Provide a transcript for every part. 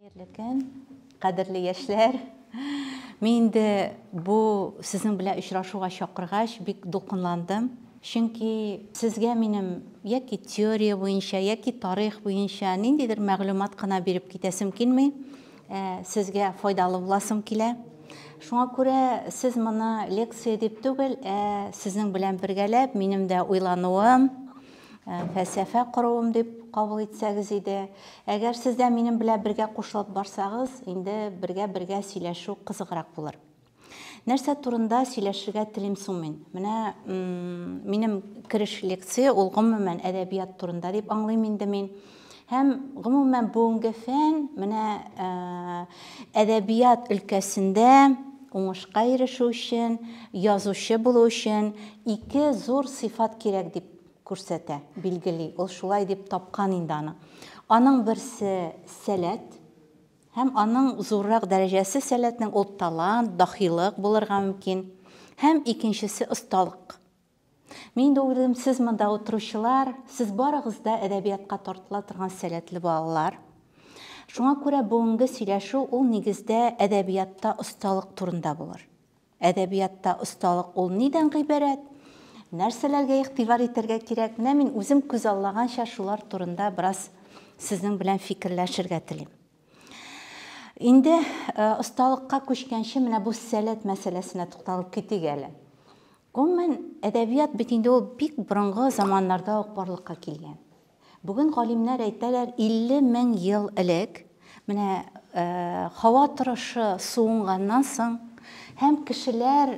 Хәерле көн, кадерле яшьләр! Мин инде бу сезнең белән очрашуга чакыргач, бик дулкынландым. Чөнки сезгә минем яки теория буенча, яки тарих буенча ниндидер мәгълүмат кына биреп китәсем килми, ә сезгә файдалы буласым килә. Шуңа күрә сез моны лекция дип түгел, ә сезнең белән бергәләп минем дә уйлануым, Ә, фәлсәфә коруым дип кабул итсәгез иде. Әгәр сез дә минем белән бергә кушылып барсагыз, инде бергә-бергә сөйләшү кызыграк булыр. Нәрсә турында сөйләшергә телим соң мин? Менә минем кереш лекция ул гомумән әдәбият турында дип аңлыйм инде мин. Һәм, гомумән, бүгенге фән менә әдәбият өлкәсендә уңышка ирешү өчен, язучы булу өчен ике зур сыйфат кирәк дип күрсәтә, билгели. Ул шулай дип тапкан инде аны. Аның берсе, сәләт. Һәм аның зуррак дәрәҗәсе сәләтнең ул талант, дахилык булырга мөмкин. Һәм икенчесе, осталык. Мин дә уйлыйм, сез монда утыручылар, сез барыгыз да әдәбиятка тартыла торган сәләтле балалар. Шуңа күрә бүгенге сөйләшү ул нигездә әдәбиятта осталык турында булыр. Әдәбиятта осталык ул нидән гыйбарәт? Нәрсәләргә игътибар итәргә кирәк? Менә мин үзем күз аллаганча шулар турында бераз сезнең белән фикерләшергә телим. Инде осталыкка күчкәнче менә бу сәләт мәсьәләсенә тукталып китик әле. Гомумән, әдәбият бит инде ул бик борынгы заманнарда ук барлыкка килгән. Бүген галимнәр әйтәләр, 50 мең ел элек менә һава торышы суынганнан соң һәм кешеләр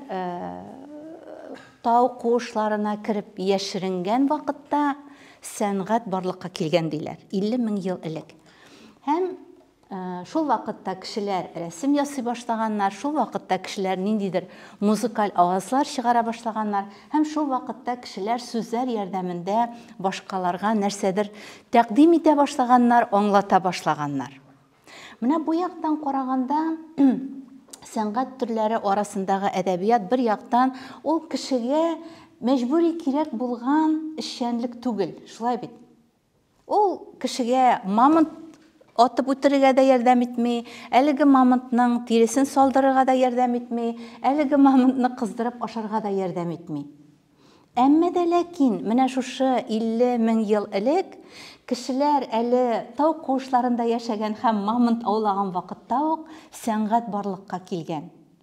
тау куышларына кереп яшеренгән вакытта сәнгать барлыкка килгән диләр, 50 мең ел элек. Һәм Шул вакытта кешеләр рәсем ясый башлаганнар, шул вакытта кешеләр ниндидер музыкаль авазлар чыгара башлаганнар һәм шул вакытта кешеләр сүзләр ярдәмендә башкаларга нәрсәдер тәкъдим итә башлаганнар, аңлата башлаганнар. Менә бу яктан караганда сәнгать төрләре арасындагы әдәбият бер яктан ул кешегә мәҗбүри кирәк булган эшчәнлек түгел, шулай бит? Ул кешегә мамонт атып үтерергә дә ярдәм итми, әлеге мамонтның тиресен салдырырга да ярдәм итми, әлеге мамонтны кыздырып ашарга да ярдәм итми. Әмма дә ләкин менә шушы 50 мең ел элек кешеләр әле тау куышларында яшәгән һәм мамонт аулаган вакытта ук сәнгать барлыкка килгән.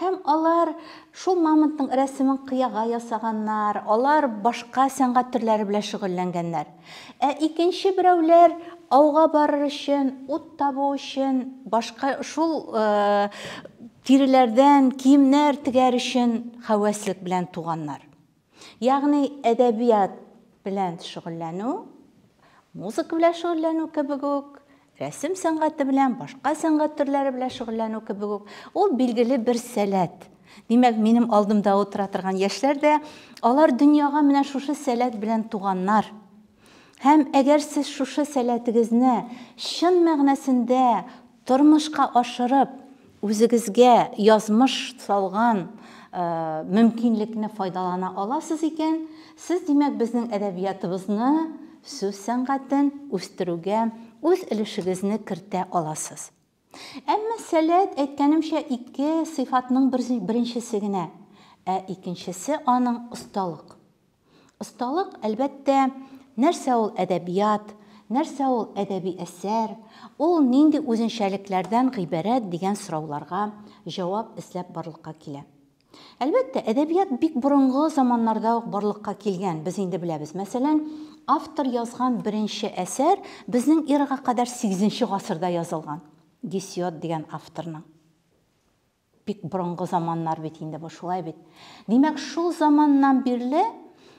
Һәм алар шул мамонтның рәсемен кыяга ясаганнар, алар башка сәнгать төрләре белән шөгыльләнгәннәр. Ә икенче берәүләр ауга барыр өчен, ут табу өчен, башка шул тиреләрдән киемнәр тегәр өчен хәвәслек белән туганнар. Ягъни әдәбият белән шөгыльләнү, музыка белән шөгыльләнү кебек үк, рәсем сәнгате белән, башка сәнгать төрләре белән шөгыльләнү кебек үк, ул билгеле бер сәләт. Димәк, минем алдымда утыра торган яшьләр дә, алар дөньяга менә шушы сәләт белән туганнар. Һәм әгәр сез шушы сәләтегезне чын мәгънәсендә тормышка ашырып, үзегезгә язмыш салган мөмкинлекне файдалана аласыз икән, сез, димәк, безнең әдәбиятыбызны, сүз сәнгатен үстерүгә үз өлешегезне кертә аласыз. Әмма сәләт, әйткәнемчә, ике сыйфатның беренчесе генә, ә икенчесе аның осталык. Осталык, әлбәттә, нәрсә ул әдәбият, нәрсә ул әдәби әсәр, ул нинди үзенчәлекләрдән гыйбарәт дигән сорауларга җавап эзләп барлыкка килә. Әлбәттә, әдәбият бик борынгы заманнарда ук барлыкка килгән, без инде беләбез. Мәсәлән, автор язган беренче әсәр безнең эрага кадәр сигезенче гасырда язылган. Гесиод дигән авторның. Бик борынгы заманнар бит инде бу, шулай бит? Димәк, шул заманнан бирле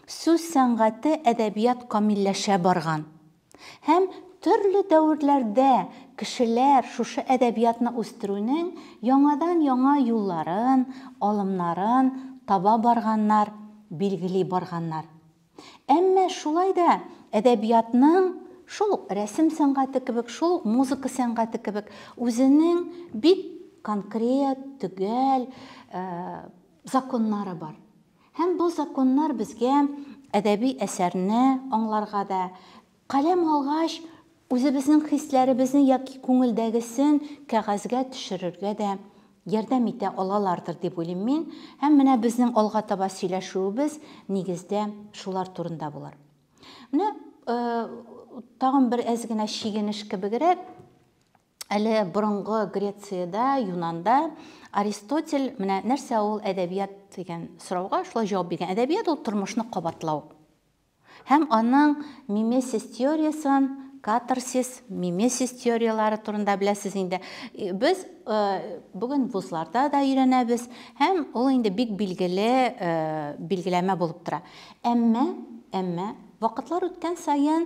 сүз сәнгате, әдәбият камилләшә барган. Һәм төрле дәверләрдә кешеләр шушы әдәбиятны үстерүнең яңадан-яңа юлларын, алымнарын таба барганнар, билгели барганнар. Әмма шулай да әдәбиятның, шул ук рәсем сәнгате кебек, шул ук музыка сәнгате кебек, үзенең бик конкрет, төгәл законнары бар. Һәм бу законнар безгә әдәби әсәрне аңларга да, каләм алгач, үзебезнең хисләребезне яки күңелдәгесен кәгазьгә төшерергә дә ярдәм итә алалардыр дип уйлыйм мин. Һәм менә безнең алга таба сөйләшүебез, нигездә, шулар турында булыр. Менә тагын бер әз генә чигенеш кебегрәк, Әле борынгы Грециядә, Юнанда Аристотель менә нәрсә ул әдәбият дигән сорауга шулай җавап биргән. Әдәбият ул тормышны кабатлау. Һәм аның мимесис теориясен, катарсис, мимесис теорияләре турында беләсез инде. Без э, бүген вузларда да өйрәнәбез һәм ул инде бик билгеле э, билгеләмә булып тора. Әмма, әмма вакытлар үткән саен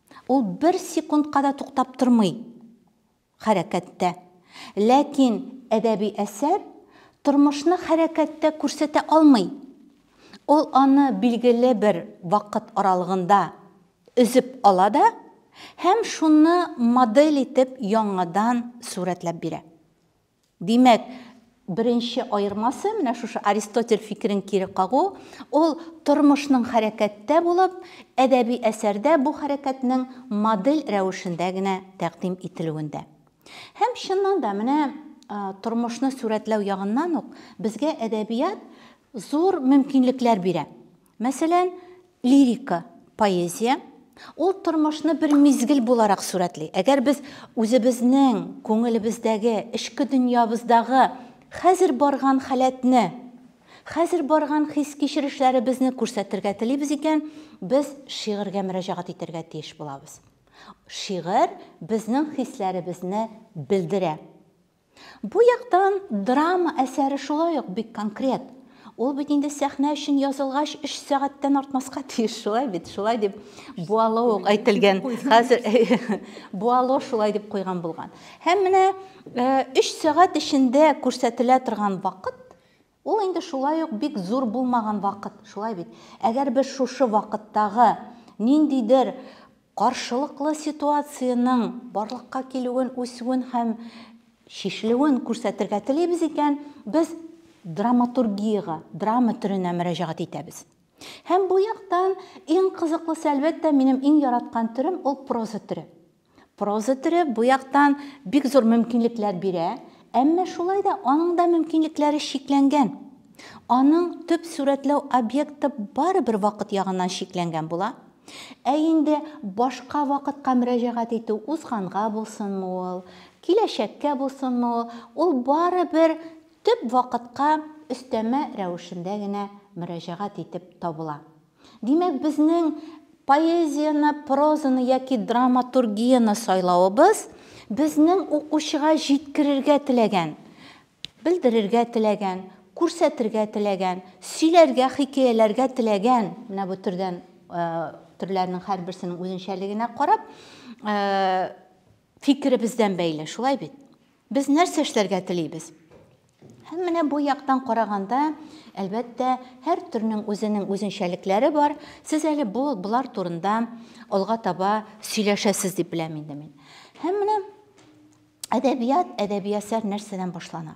Ул бер секундка да туктап тормый хәрәкәттә. Ләкин әдәби әсәр тормышны хәрәкәттә күрсәтә алмый. Ул аны билгеле бер вакыт аралыгында өзеп ала да һәм шуны модель итеп яңадан сурәтләп бирә. Димәк, беренче аермасы, менә шушы Аристотель фикерен кире кагу, ул тормышның хәрәкәттә булып, әдәби әсәрдә бу хәрәкәтнең модель рәвешендә генә тәкъдим ителүендә. Һәм, чыннан да, менә тормышны сурәтләү ягыннан ук безгә әдәбият зур мөмкинлекләр бирә. Мәсәлән, лирика, поэзия, ул тормышны бер мизгел буларак сурәтли. Әгәр без үзебезнең күңелебездәге, эчке дөньябыздагы хәзер барган халәтне, хәзер барган хис-кичерешләребезне күрсәтергә телибез икән, без шигырьгә мөрәҗәгать итәргә тиеш булабыз. Шигырь безнең хисләребезне белдерә. Бу яктан драма әсәре шулай ук бик конкрет. Ул бит инде сәхнә өчен язылгач, өч сәгатьтән артмаска тиеш, шулай бит, шулай дип Буало ук әйтелгән. Хәзер Буало шулай дип куйган булган. Һәм менә э, өч сәгать эчендә күрсәтелә торган вакыт Ул инде шулай ук бик зур булмаган вакыт, шулай бит? Әгәр без шушы вакыттагы ниндидер каршылыклы ситуациянең барлыкка килүен, үсүен һәм чишелүен күрсәтергә телибез икән, без драматургиягә, драма төренә мөрәҗәгать итәбез. Һәм бу яктан иң кызыклысы, әлбәттә, минем иң яраткан төрем, ул проза төре. Проза төре бу яктан бик зур мөмкинлекләр бирә, әмма шулай да аның да мөмкинлекләре чикләнгән. Аның төп сурәтләү объекты барыбер вакыт ягыннан чикләнгән була. Ә инде башка вакытка мөрәҗәгать итү, узганга булсынмы ул, киләчәккә булсынмы ул, ул барыбер төп вакытка өстәмә рәвешендә генә мөрәҗәгать итеп табыла. Димәк, безнең поэзияне, прозаны яки драматургияне сайлавыбыз безнең укучыга җиткерергә теләгән, белдерергә теләгән, күрсәтергә теләгән, сөйләргә, хикәяләргә теләгән, менә бу төрдән төрләрнең һәрберсенең үзенчәлегенә карап, фикеребездән бәйле, шулай бит? Без нәрсә эшләргә телибез? Һәм менә бу яктан караганда, әлбәттә, һәр төрнең үзенең үзенчәлекләре бар. Сез әле бу болар турында алга таба сөйләшәсез дип беләм инде мин. Һәм менә әдәбият, әдәби әсәр нәрсәдән башлана?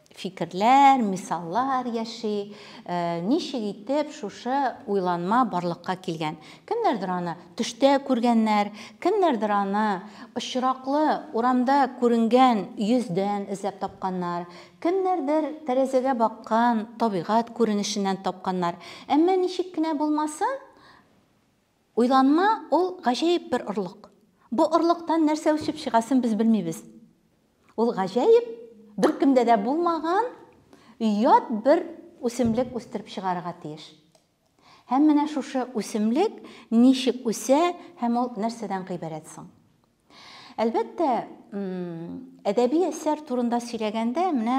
фикерләр, мисаллар яши, ничек итеп шушы уйланма барлыкка килгән. Кемнәрдер аны төштә күргәннәр, кемнәрдер аны очраклы урамда күренгән йөздән эзләп тапканнар, кемнәрдер тәрәзәгә баккан табигать күренешеннән тапканнар. Әмма ничек кенә булмасын, Уйланма, ул гаҗәеп бер орлык. Бу орлыктан нәрсә үсеп чыгасын без белмибез. Ул гаҗәеп, беркемдә дә булмаган ят бер үсемлек үстереп чыгарырга тиеш. Һәм менә шушы үсемлек ничек үсә һәм ул нәрсәдән гыйбарәт соң? Әлбәттә, әдәби әсәр турында сөйләгәндә, менә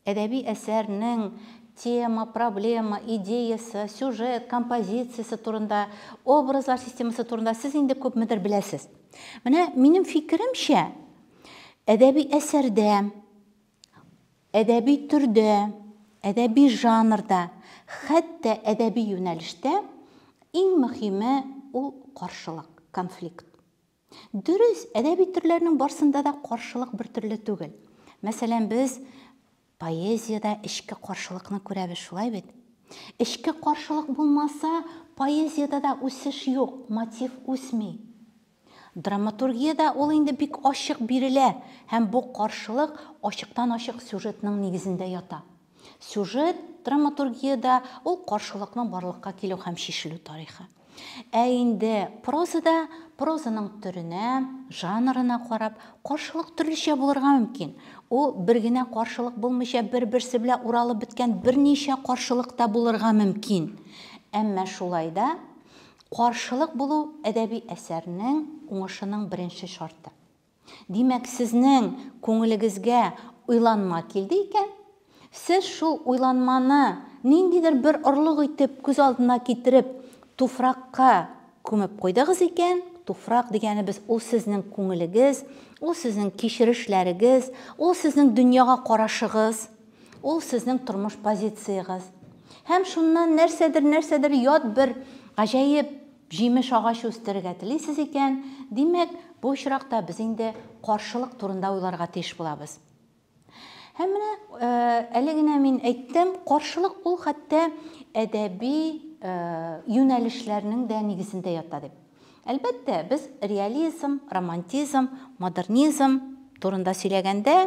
Әдәби әсәрнең тема, проблема, идеясы, сюжет, композициясе турында, образлар системасы турында сез инде күпмедер беләсез. Менә минем фикеремчә, әдәби әсәрдә, әдәби төрдә, әдәби жанрда, хәтта әдәби юнәлештә иң мөһиме ул каршылык, конфликт. Дөрес, әдәби төрләрнең барсында да каршылык бертөрле түгел. Мәсәлән, без поэзиядә эчке каршылыкны күрәбез, шулай бит? Эчке каршылык булмаса, поэзиядә дә үсеш юк, мотив үсми. Драматургиядә ул инде бик ачык бирелә һәм бу каршылык ачыктан-ачык сюжетның нигезендә ята. Сюжет, драматургиядә, ул каршылыкның барлыкка килү һәм чишелү тарихы. Ә инде прозада прозаның төренә, жанрына карап, каршылык төрлечә булырга мөмкин. Ул бер генә каршылык булмыйча, бер-берсе белән уралып беткән берничә каршылык та булырга мөмкин. Әмма шулай да каршылык булу әдәби әсәрнең уңышының беренче шарты. Димәк, сезнең күңелегезгә уйланма килде икән, сез шул уйланманы ниндидер бер орлык итеп күз алдына китереп, туфракка күмеп куйдыгыз икән, туфрак дигәнебез ул сезнең күңелегез, ул сезнең кичерешләрегез, ул сезнең дөньяга карашыгыз, ул сезнең тормыш позициягыз. Һәм шуннан нәрсәдер-нәрсәдер ят бер гаҗәеп Җимеш агачы үстерергә телисез икән, димәк, бу очракта без инде каршылык турында уйларга тиеш булабыз. Һәм менә әле генә мин әйттем, каршылык ул хәтта әдәби юнәлешләрнең дә нигезендә ята дип. Әлбәттә, без реализм, романтизм, модернизм турында сөйләгәндә,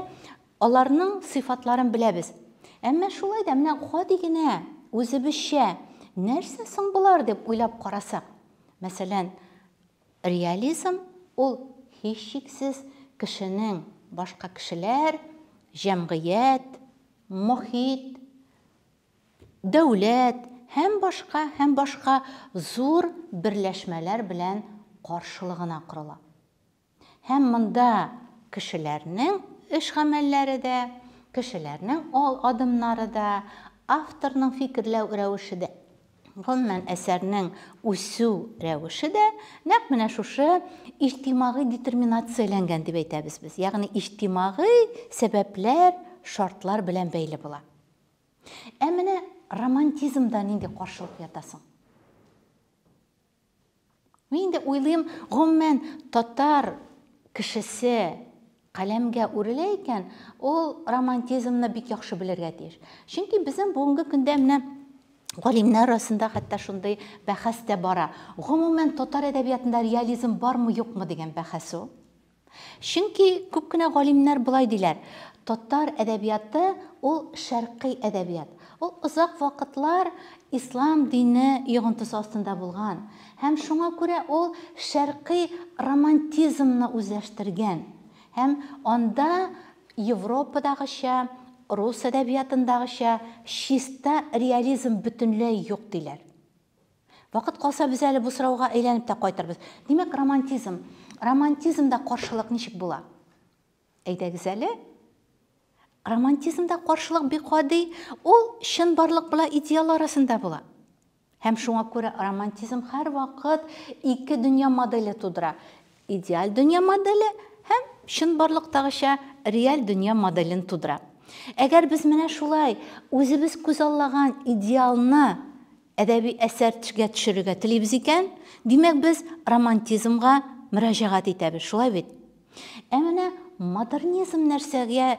Аларның сыйфатларын беләбез. Әмма шулай да менә гади генә, үзебезчә, нәрсә соң болар дип уйлап карасак, мәсәлән, реализм, ул, һичшиксез, кешенең башка кешеләр, җәмгыять, мохит, дәүләт һәм башка, һәм башка зур берләшмәләр белән каршылыгына корыла. Һәм монда кешеләрнең эш-гамәлләре дә, кешеләрнең ал адымнары да, авторның фикерләү рәвеше дә, гомумән, әсәрнең үсү рәвеше дә нәкъ менә шушы иҗтимагый детерминацияләнгән дип әйтәбез без, ягъни иҗтимагый сәбәпләр, шартлар белән бәйле була. Ә менә романтизмда нинди каршылык ята соң? Мин инде уйлыйм, гомумән, татар кешесе каләмгә үрелә икән, ул романтизмны бик яхшы белергә тиеш. Чөнки безнең бүгенге көндә менә галимнәр арасында хәтта шундый бәхәс тә бара. Гомумән, татар әдәбиятында реализм бармы-юкмы дигән бәхәс ул. Чөнки күп кенә галимнәр болай диләр, татар әдәбияты ул шәркый әдәбият. Ул озак вакытлар ислам дине йогынтысы астында булган һәм шуңа күрә ул шәркый романтизмны үзләштергән һәм анда Европадагыча, рус әдәбиятындагыча чиста реализм бөтенләй юк диләр. Вакыт калса, без әле бу сорауга әйләнеп тә кайтырбыз. Димәк, романтизм. Романтизмда каршылык ничек була? Әйдәгез әле. Романтизмда каршылык бик гади, ул чынбарлык белән идеал арасында була. Һәм шуңа күрә романтизм һәрвакыт ике дөнья моделе тудыра. Идеаль дөнья моделе һәм чынбарлыктагыча реаль дөнья моделен тудыра. Әгәр без менә шулай үзебез күзаллаган идеалны әдәби әсәргә төшерергә телибез икән, димәк, без романтизмга мөрәҗәгать итәбез, шулай бит? Ә менә модернизм нәрсәгә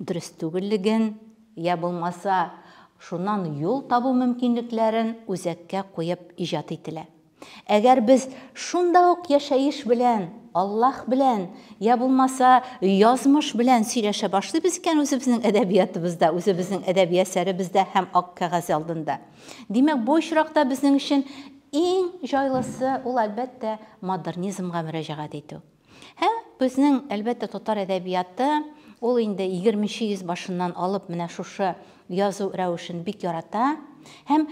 дөрес түгеллеген, йә булмаса, шуннан юл табу мөмкинлекләрен үзәккә куеп иҗат ителә. Әгәр без шунда ук яшәеш белән, Аллаһ белән, йә булмаса, язмыш белән сөйләшә башлыйбыз икән үзебезнең әдәбиятыбызда, үзебезнең әдәби әсәребездә һәм ак кәгазь алдында, димәк, бу очракта безнең өчен иң җайлысы, ул, әлбәттә, модернизмга мөрәҗәгать итү. Һәм безнең, әлбәттә, татар әдәбияты, ул инде егерменче йөз башыннан алып менә шушы язу рәвешен бик ярата. Һәм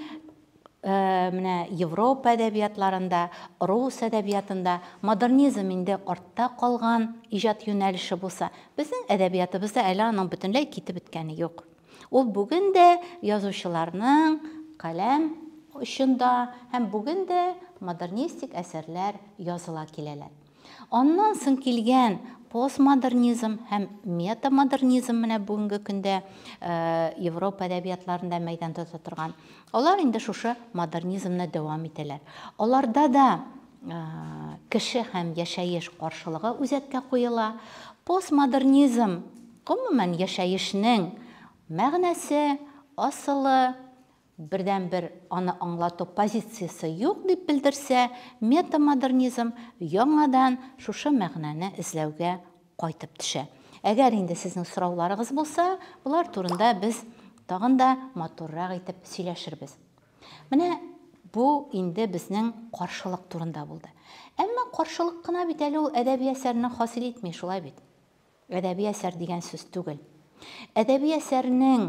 менә Европа әдәбиятларында, рус әдәбиятында модернизм инде артта калган иҗат юнәлеше булса, безнең әдәбиятыбызда әле аның бөтенләй китеп беткәне юк. Ул бүген дә язучыларның каләм очында һәм бүген дә модернистик әсәрләр языла киләләр. Аннан соң килгән постмодернизм һәм метамодернизм менә бүгенге көндә Европа әдәбиятларында мәйдан тота торган. Алар инде шушы модернизмны дәвам итәләр. Аларда да кеше һәм яшәеш каршылыгы үзәккә куела. Постмодернизм Гомумән, яшәешнең мәгънәсе, асылы, бердәнбер аны аңлату позициясе юк, дип белдерсә, метамодернизм яңадан шушы мәгънәне эзләүгә кайтып төшә. Әгәр инде сезнең сорауларыгыз булса, болар турында без тагын да матуррак итеп сөйләшербез. Менә бу инде безнең каршылык турында булды. Әмма каршылык кына бит әле ул әдәби әсәрне хасил итми, шулай бит? Әдәби әсәр дигән сүз түгел. Әдәби әсәрнең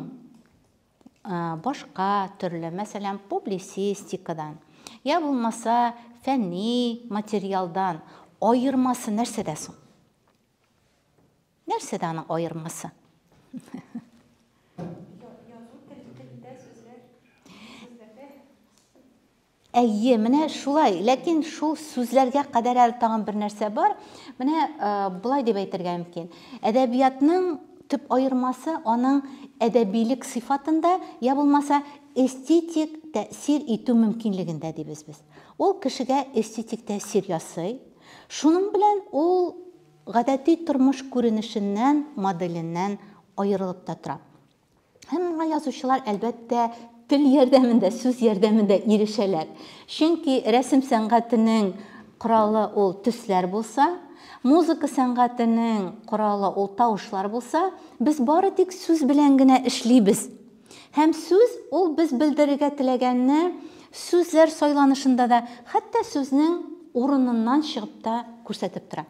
башка төрле, мәсәлән, публицистикадан, я булмаса фәнни материалдан аермасы нәрсәдә соң? Нәрсәдә аның аермасы? Әйе, менә шулай. Ләкин шул сүзләргә кадәр әле тагын бер нәрсә бар. Менә болай дип әйтергә мөмкин. Әдәбиятның төп аермасы аның әдәбилек сыйфатында, я булмаса эстетик тәэсир итү мөмкинлегендә дибез без. Ул кешегә эстетик тәэсир ясый. Шуның белән ул гадәти тормыш күренешеннән, моделеннән аерылып та тора. Һәм моңа язучылар, әлбәттә, тел ярдәмендә, сүз ярдәмендә ирешәләр. Чөнки рәсем сәнгатенең коралы ул төсләр булса, музыка сәнгатенең коралы ул тавышлар булса, без бары тик сүз белән генә эшлибез. Һәм сүз ул без белдерергә теләгәнне сүзләр сайланышында да, хәтта сүзнең урыныннан чыгып та күрсәтеп тора.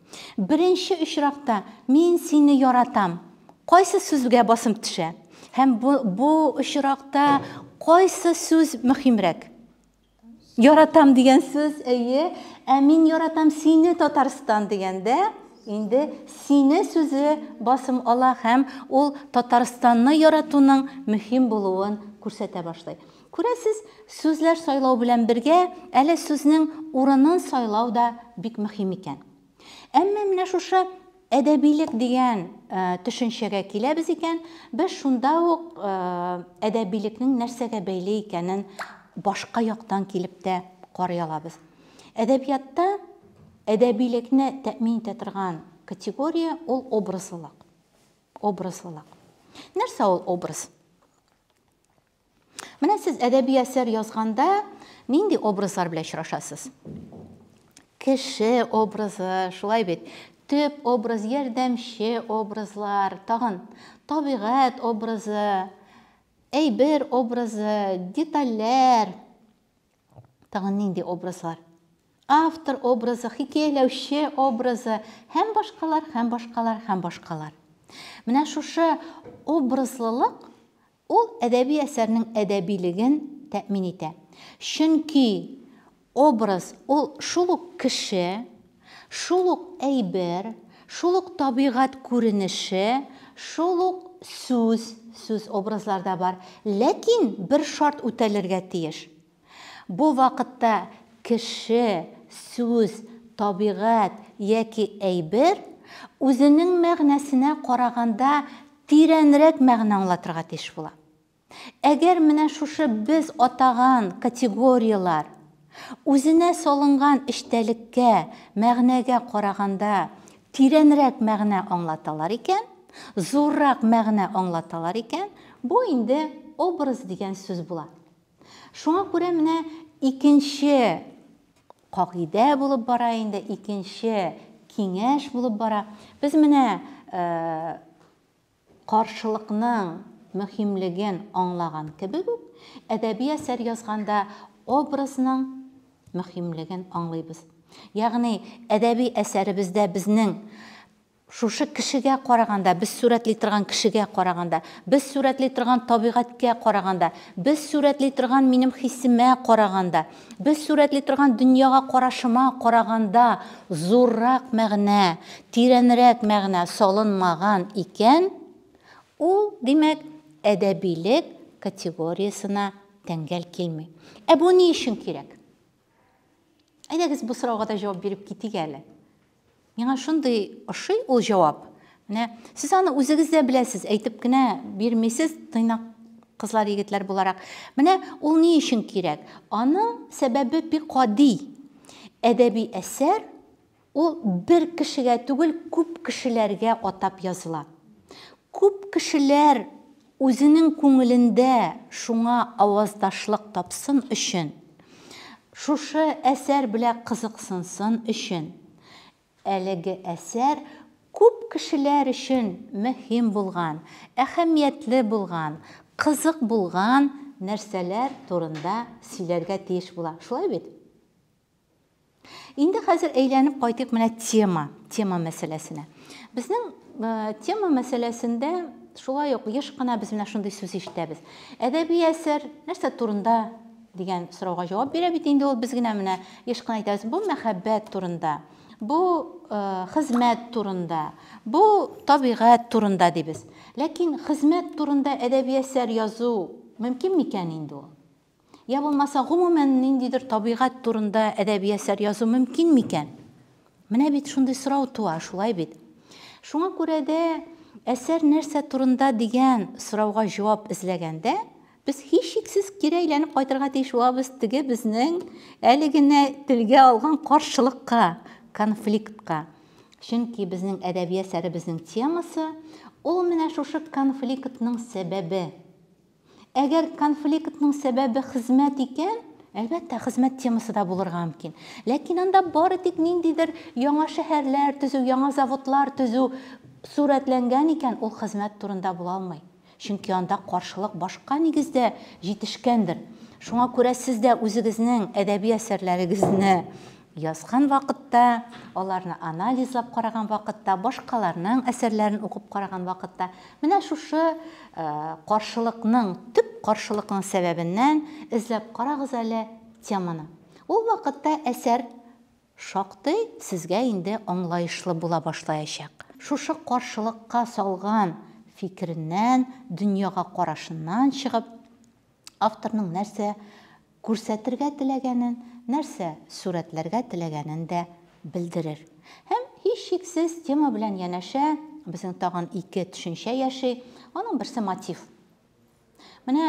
Беренче очракта, Мин сине яратам кайсы сүзгә басым төшә? Һәм бу, бу очракта кайсы сүз мөһимрәк? Яратам дигән сүз, әйе. Ә мин яратам сине, Татарстан дигәндә, инде сине сүзе басым ала һәм ул Татарстанны яратуның мөһим булуын күрсәтә башлый. Күрәсез, сүзләр сайлау белән бергә, әле сүзнең урынын сайлау да бик мөһим икән. Әмма менә шушы әдәбилек дигән төшенчәгә киләбез икән, без шунда ук әдәбилекнең нәрсәгә бәйле икәнен башка яктан килеп тә карый алабыз. Әдәбиятта әдәбилекне тәэмин итә торган категория, ул образлылык. Образлылык. Нәрсә ул образ? Менә сез әдәби әсәр язганда нинди образлар белән очрашасыз? Кеше образы, шулай бит. Төп образ, ярдәмче образлар, тагын табигать образы, әйбер образы, детальләр. Тагын нинди образлар? Автор образы, хикәяләүче образы, һәм башкалар, һәм башкалар, һәм башкалар. Менә шушы образлылык Ул әдәби әсәрнең әдәбилеген тәэмин итә. Чөнки образ ул шул ук кеше, шул ук әйбер, шул ук табигать күренеше, шул ук сүз, сүз образларда бар, ләкин бер шарт үтәлергә тиеш. Бу вакытта кеше, сүз, табигать яки әйбер үзенең мәгънәсенә караганда тирәнрәк мәгънә аңлатырга тиеш була. Әгәр менә шушы без атаган категорияләр үзенә салынган эчтәлеккә, мәгънәгә караганда тирәнрәк мәгънә аңлаталар икән, зуррак мәгънә аңлаталар икән, бу инде образ дигән сүз була. Шуңа күрә менә икенче кагыйдә булып бара инде, икенче киңәш булып бара. Без менә каршылыкның мөһимлеген аңлаган кебек үк, әдәби әсәр язганда образның мөһимлеген аңлыйбыз. Ягъни әдәби әсәребездә безнең Шушы кешегә караганда, без сурәтли торган кешегә караганда, без сурәтли торган табигатькә караганда, без сурәтли торган минем хисемә караганда, без сурәтли торган дөньяга карашыма караганда зуррак мәгънә, тирәнрәк мәгънә салынмаган икән, ул, димәк, әдәбилек категориясенә тәңгәл килми. Ә бу ни өчен кирәк? Әйдәгез бу сорауга да җавап биреп китик әле. Миңа шундый ошый ул җавап. Менә сез аны үзегез дә беләсез, әйтеп кенә бирмисез, тыйнак кызлар, егетләр буларак. Менә ул ни өчен кирәк? Аның сәбәбе бик гади. Әдәби әсәр Ул бер кешегә түгел, күп кешеләргә атап языла. Күп кешеләр үзенең күңелендә шуңа аваздашлык тапсын өчен, шушы әсәр белә кызыксынсын өчен, әлеге әсәр күп кешеләр өчен мөһим булган, әһәмиятле булган, кызык булган нәрсәләр турында сөйләргә тиеш була. Шулай бит? Инде хәзер әйләнеп кайтыйк менә тема, тема мәсьәләсенә. Безнең тема мәсьәләсендә шулай ук еш кына без менә шундый сүз ишетәбез. Әдәби әсәр нәрсә турында дигән сорауга җавап бирә бит инде ул без генә менә еш кына әйтәбез, бу мәхәббәт турында, бу э, хезмәт турында, бу табигать турында дибез. Ләкин хезмәт турында әдәби әсәр язу мөмкин микән инде ул? Йә булмаса, гомумән, ниндидер табигать турында әдәби әсәр язу мөмкин микән? Менә бит шундый сорау туа, шулай бит? Шуңа күрә дә, әсәр нәрсә турында дигән сорауга җавап эзләгәндә, без һичшиксез кире әйләнеп кайтырга тиеш булабыз теге безнең әле генә телгә алган каршылыкка, конфликтка. Чөнки безнең әдәби әсәребезнең темасы, ул менә шушы конфликтның сәбәбе. Әгәр конфликтның сәбәбе хезмәт икән, әлбәттә, хезмәт темасы да булырга мөмкин. Ләкин анда бары тик ниндидер яңа шәһәрләр төзү, яңа заводлар төзү сурәтләнгән икән, ул хезмәт турында була алмый. Чөнки анда каршылык башка нигездә җитешкәндер. Шуңа күрә сез дә үзегезнең әдәби әсәрләрегезне Язган вакытта, аларны анализлап караган вакытта, башкаларның әсәрләрен укып караган вакытта, менә шушы каршылыкның, төп каршылыкның сәбәбеннән эзләп карагыз әле теманы. Ул вакытта әсәр шактый сезгә инде аңлаешлы була башлаячак. Шушы каршылыкка салган фикереннән, дөньяга карашыннан чыгып, Авторның нәрсә күрсәтергә теләгәнен, нәрсә сурәтләргә теләгәнен дә белдерер. Һәм, һичшиксез, тема белән янәшә безнең тагын ике төшенчә яши. Аның берсе мотив. Менә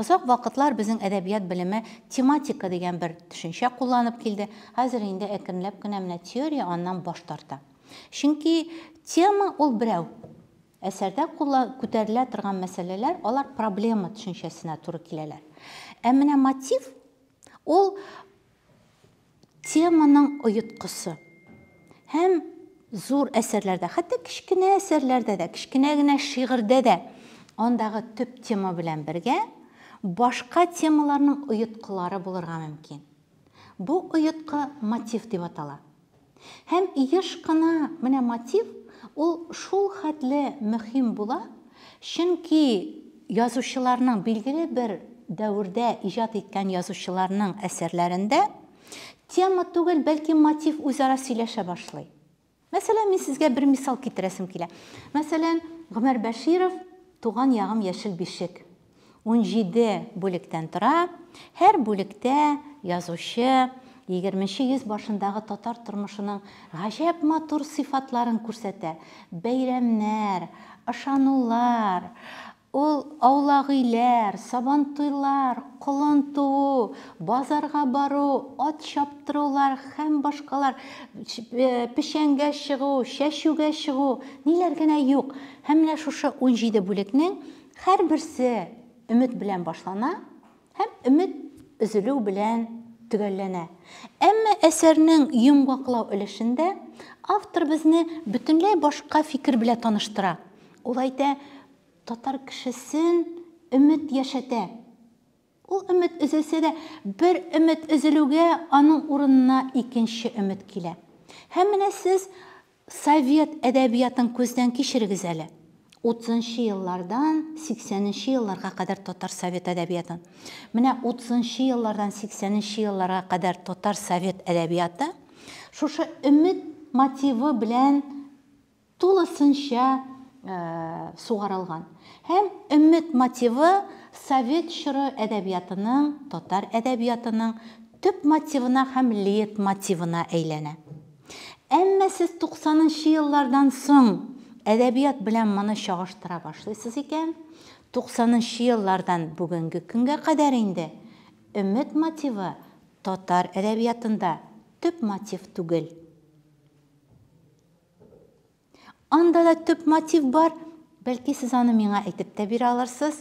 озак вакытлар безнең әдәбият белеме тематика дигән бер төшенчә кулланып килде. Хәзер инде әкренләп кенә менә теория аннан баш тарта. Чөнки тема ул берәү. Әсәрдә кулла күтәрелә торган мәсьәләләр, алар проблема төшенчәсенә туры киләләр. Ә менә мотив, ул теманың оеткысы. Һәм зур әсәрләрдә, хәтта кечкенә әсәрләрдә дә, кечкенә генә шигырьдә дә андагы төп тема белән бергә башка темаларның оеткылары булырга мөмкин. Бу оеткы мотив дип атала. Һәм еш кына менә мотив ул шул хәтле мөһим була, чөнки язучыларның, билгеле бер дәвердә иҗат иткән язучыларның әсәрләрендә тема түгел, бәлки мотив үзара сөйләшә башлый. Мәсәлән, мин сезгә бер мисал китерәсем килә. Мәсәлән, Гомәр Бәширов Туган ягым яшел бишек. Унҗиде бүлектән тора. Һәр бүлектә язучы егерменче йөз башындагы татар тормышының гаҗәп матур сыйфатларын күрсәтә. Бәйрәмнәр, ышанулар, ул аулагөйләр, сабантуйлар, колын туу, базарга бару, ат чаптырулар һәм башкалар, печәнгә чыгу, чәчүгә чыгу, ниләр генә юк. Һәм менә шушы унҗиде бүлекнең Һәрберсе өмет белән башлана һәм өмет өзелү белән төгәлләнә. Әмма әсәрнең йомгаклау өлешендә автор безне бөтенләй башка фикер белә таныштыра. Ул әйтә, татар кешесен өмет яшәтә. Ул өмет өзелсә дә, бер өмет өзелүгә, аның урынына икенче өмет килә. Һәм менә сез совет әдәбиятын күздән кичерегез әле. Утызынчы еллардан сиксәненче елларга кадәр татар совет әдәбиятын. Менә утызынчы еллардан сиксәненче елларга кадәр татар совет әдәбияты шушы өмет мотивы белән тулысынча сугарылган һәм Өмет мотивы совет чоры әдәбиятының, татар әдәбиятының төп мотивына һәм лейтмотивына әйләнә. Әмма сез туксанынчы еллардан соң әдәбият белән моны чагыштыра башлыйсыз икән, туксанынчы еллардан бүгенге көнгә кадәр инде Өмет мотивы татар әдәбиятында төп мотив түгел. Анда да төп мотив бар. Бәлки сез аны миңа әйтеп тә бирә алырсыз?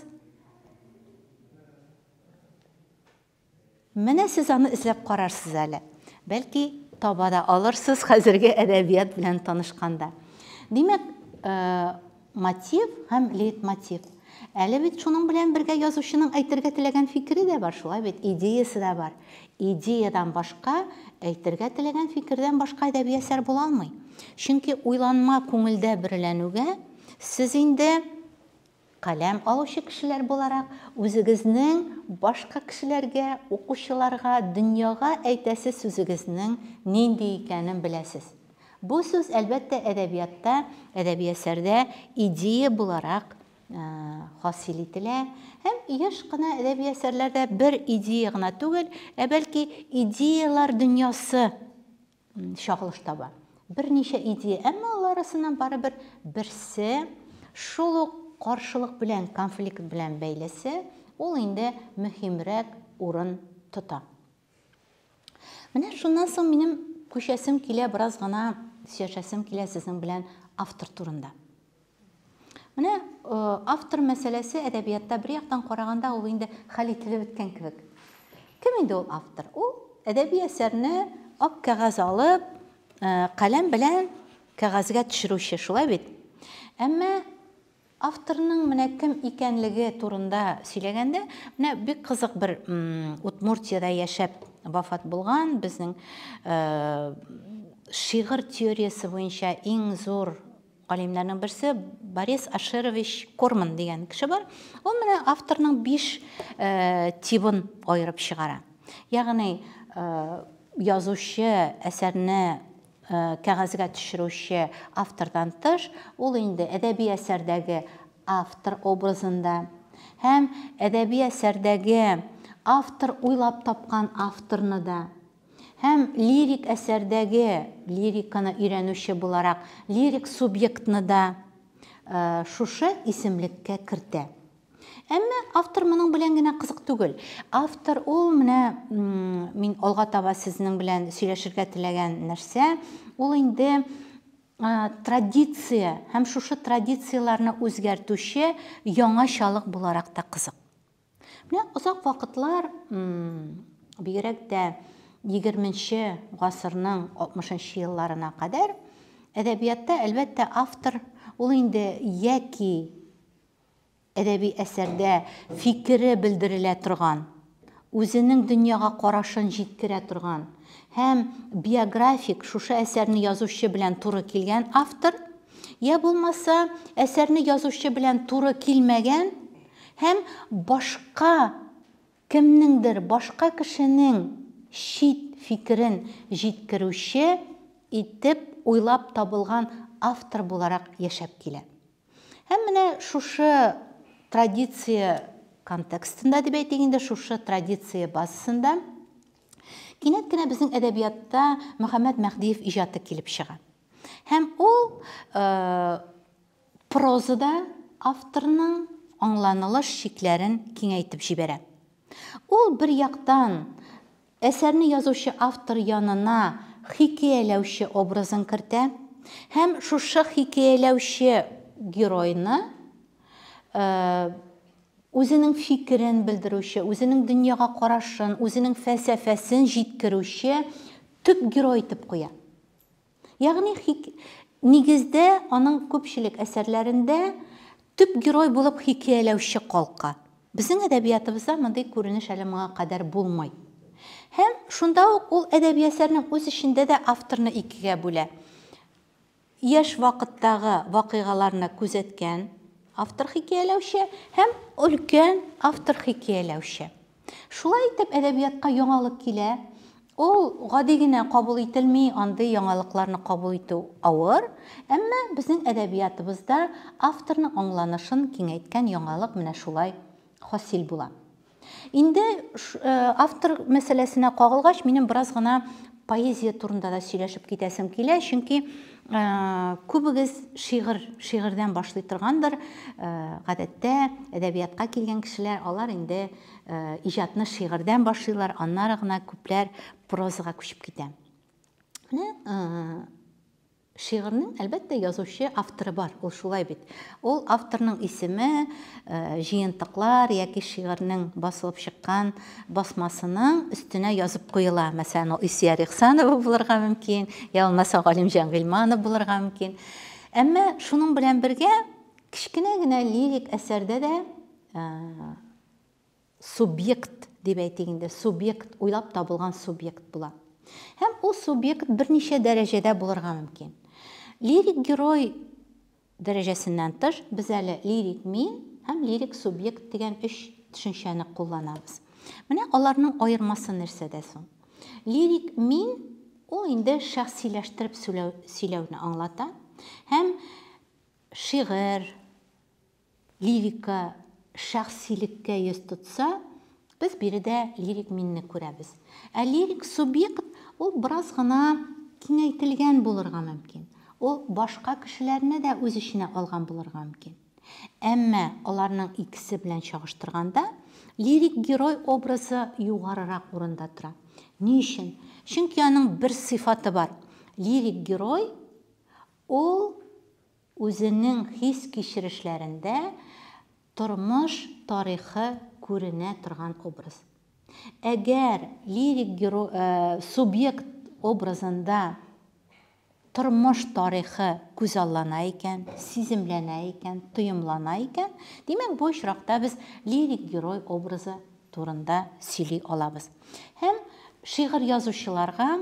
Менә сез аны эзләп карарсыз әле. Бәлки таба да алырсыз хәзерге әдәбият белән танышканда. Димәк, э, Мотив һәм лейтмотив. Әле бит шуның белән бергә язучының әйтергә теләгән фикере дә бар, шулай бит, идеясе дә бар. Идеядан башка, әйтергә теләгән фикердән башка әдәби әсәр була алмый. Чөнки уйланма күңелдә бөреләнүгә, сез инде, каләм алучы кешеләр буларак, үзегезнең башка кешеләргә, укучыларга, дөньяга әйтәсе сүзегезнең нинди икәнен беләсез. Бу сүз, әлбәттә, әдәбиятта, әдәби әсәрдә идея буларак хасил ителә һәм еш кына әдәби әсәрләрдә бер идея гына түгел, ә бәлки идеялар дөньясы чагылыш таба. Берничә идея, әмма алар арасыннан барыбер берсе шул ук каршылык белән, конфликт белән бәйлесе, ул инде мөһимрәк урын тота. Менә шуннан соң минем күчәсем килә, бераз гына сөйләшәсем килә сезнең белән автор турында. Менә э, автор мәсьәләсе әдәбиятта бер яктан караганда ул инде хәл ителеп беткән кебек. Кем инде ул автор? Ул әдәби әсәрне ак кәгазь алып, э, каләм белән кәгазьгә төшерүче, шулай бит? Әмма Авторның менә кем икәнлеге турында сөйләгәндә, менә бик кызык бер Удмуртиядә яшәп вафат булган, безнең шигырь теориясе буенча иң зур галимнәрнең берсе Борис Ашерович Корман дигән кеше бар. Ул менә авторның биш тибын аерып чыгара. Ягъни язучы әсәрне Кәгазьгә төшерүче автордан тыш, ул инде әдәби әсәрдәге автор образында һәм әдәби әсәрдәге автор уйлап тапкан авторны да һәм лирик әсәрдәге лириканы өйрәнүче буларак лирик субъектны да шушы исемлеккә кертә. Әмма автор моның белән генә кызык түгел. Автор ул менә мин алга таба сезнең белән сөйләшергә теләгән нәрсә, ул инде традиция һәм шушы традицияләрне үзгәртүче яңачалык буларак та кызык. Менә озак вакытлар бигрәк тә 20-нче гасырның 60-нчы елларына кадәр әдәбиятта, әлбәттә, автор ул инде яки Әдәби әсәрдә фикере белдерелә торган, үзенең дөньяга карашын җиткерә торган һәм биографик шушы әсәрне язучы белән туры килгән автор, йә булмаса, әсәрне язучы белән туры килмәгән һәм башка кемнеңдер, башка кешенең чит фикерен җиткерүче итеп уйлап табылган автор буларак яшәп килә. Һәм менә шушы традиция контекстында дип әйтик инде, шушы традиция базасында кинәт кенә безнең әдәбиятта Мөхәммәд Мәһдиев иҗаты килеп чыга. Һәм ул э, прозада авторның аңланылыш чикләрен киңәйтеп җибәрә. Ул бер яктан Әсәрне язучы автор янына хикәяләүче образын кертә һәм шушы хикәяләүче геройны үзенең фикерен белдерүче, үзенең дөньяга карашын, үзенең фәлсәфәсен җиткерүче төп герой итеп куя. Ягъни, хик... нигездә аның күпчелек әсәрләрендә төп герой булып хикәяләүче калка. Безнең әдәбиятыбызда мондый күренеш әле моңа кадәр булмый. Һәм шунда ук ул әдәби әсәрнең үз эчендә дә авторны икегә бүлә. Яшь вакыттагы вакыйгаларны күзәткән автор-хикәяләүче һәм өлкән автор-хикәяләүче. Шулай итеп, әдәбиятка яңалык килә. Ул гади генә кабул ителми, андый яңалыкларны кабул итү авыр. Әмма безнең әдәбиятыбызда авторның аңланышын киңәйткән яңалык менә шулай хасил була. Инде автор мәсьәләсенә кагылгач, минем бераз гына поэзия турында да сөйләшеп китәсем килә, чөнки күбегез шигырь, шигырьдән башлый торгандыр. Гадәттә әдәбиятка килгән кешеләр, алар инде иҗатны шигырьдән башлыйлар, аннары гына күпләр прозага күчеп китә. Менә Шигырьнең, әлбәттә, язучы, авторы бар, ул шулай бит. Ул авторның исеме, җыентыклар яки шигырьнең басылып чыккан басмасының өстенә язып куела. Мәсәлән, ул Илсөяр Ихсанова булырга мөмкин, я булмаса Галимҗан Гыйльманов булырга мөмкин. Әмма шуның белән бергә кечкенә генә лирик әсәрдә дә субъект дип әйтик инде, субъект, уйлап табылган субъект була. Һәм ул субъект берничә дәрәҗәдә булырга мөмкин. Лирик герой дәрәҗәсеннән тыш, без әле лирик мин һәм лирик субъект дигән өч төшенчәне кулланабыз. Менә аларның аермасы нәрсәдә соң? Лирик мин ул инде шәхсиләштереп сөйләүне аңлата һәм шигырь, Лирика шәхсилеккә йөз тотса, без биредә лирик минне күрәбез. Ә лирик субъект, ул бераз гына киңәйтелгән булырга мөмкин. Ул башка кешеләрне дә үз эченә алган булырга мөмкин. Әмма аларның икесе белән чагыштырганда, лирик герой образы югарырак урында тора. Ни өчен? Чөнки аның бер сыйфаты бар, лирик герой, ул Үзенең хис-кичерешләрендә тормыш тарихы күренә торган образ. Әгәр лирик геро субъект образында тормыш тарихы күзаллана икән, сиземләнә икән, тоемлана икән, димәк, бу очракта без лирик герой образы турында сөйли алабыз. Һәм шигырь язучыларга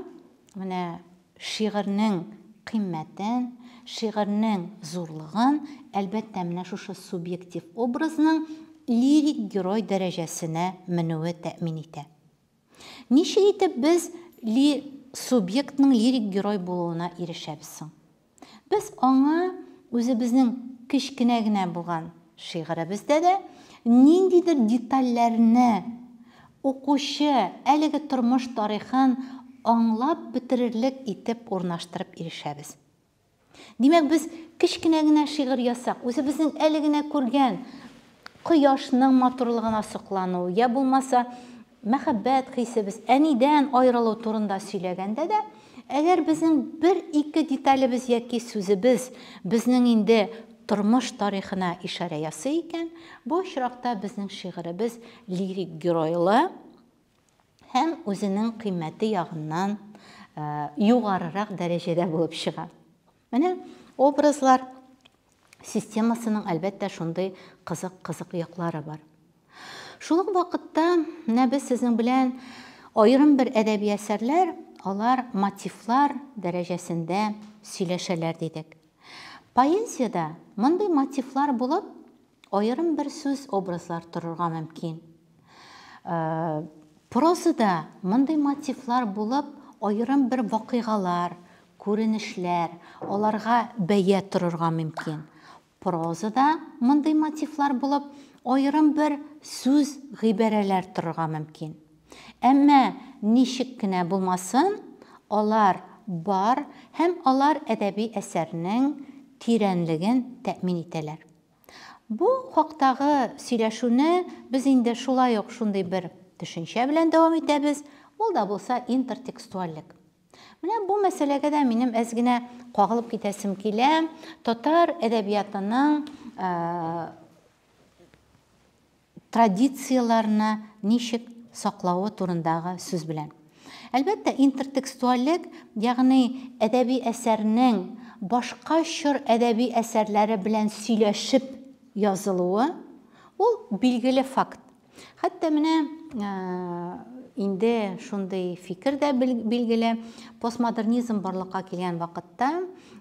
менә Шигырьнең кыйммәтен, шигырьнең зурлыгын, әлбәттә, менә шушы субъектив образның лирик герой дәрәҗәсенә менүе тәэмин итә. Ничек итеп без ли субъектның лирик герой булуына ирешәбез соң? Без аңа үзебезнең кечкенә генә булган шигыребездә дә ниндидер детальләрне Укучы, әлеге тормыш тарихын аңлап бетерерлек итеп урнаштырып ирешәбез. Димәк, без кечкенә генә шигырь язсак, үзебезнең әле генә күргән кояшның матурлыгына соклану, йә булмаса, мәхәббәт хисебез, әнидән аерылу турында сөйләгәндә дә, әгәр безнең бер-ике деталебез яки сүзебез безнең инде тормыш тарихына ишарә ясый икән, бу очракта безнең шигыребез лирик геройлы һәм үзенең кыйммәте ягыннан югарырак дәрәҗәдә булып чыга. Менә образлар системасының, әлбәттә, шундый кызык-кызык яклары бар. Шул ук вакытта менә без сезнең белән аерым бер әдәби әсәрләр, алар мотивлар дәрәҗәсендә сөйләшәләр дидек. Поэзиядә мондый мотивлар булып, аерым бер сүз, образлар торырга мөмкин. Прозада мондый мотивлар булып, аерым бер вакыйгалар, күренешләр, аларга бәя торырга мөмкин. Прозада мондый мотивлар булып, аерым бер сүз, гыйбарәләр торырга мөмкин. Әмма ничек кенә булмасын, алар бар һәм алар әдәби әсәрнең тирәнлеген тәэмин итәләр. Бу хактагы сөйләшүне без инде шулай ук шундый бер төшенчә белән дәвам итәбез, ул да булса интертекстуальлек. Менә бу мәсьәләгә дә минем әз генә кагылып китәсем килә, татар әдәбиятының традицияләрне ничек саклавы турындагы сүз белән. Әлбәттә, интертекстуальлек, ягъни әдәби әсәрнең башка чор әдәби әсәрләре белән сөйләшеп язылуы, ул билгеле факт. Хәтта менә инде шундый фикер дә билгеле, постмодернизм барлыкка килгән вакытта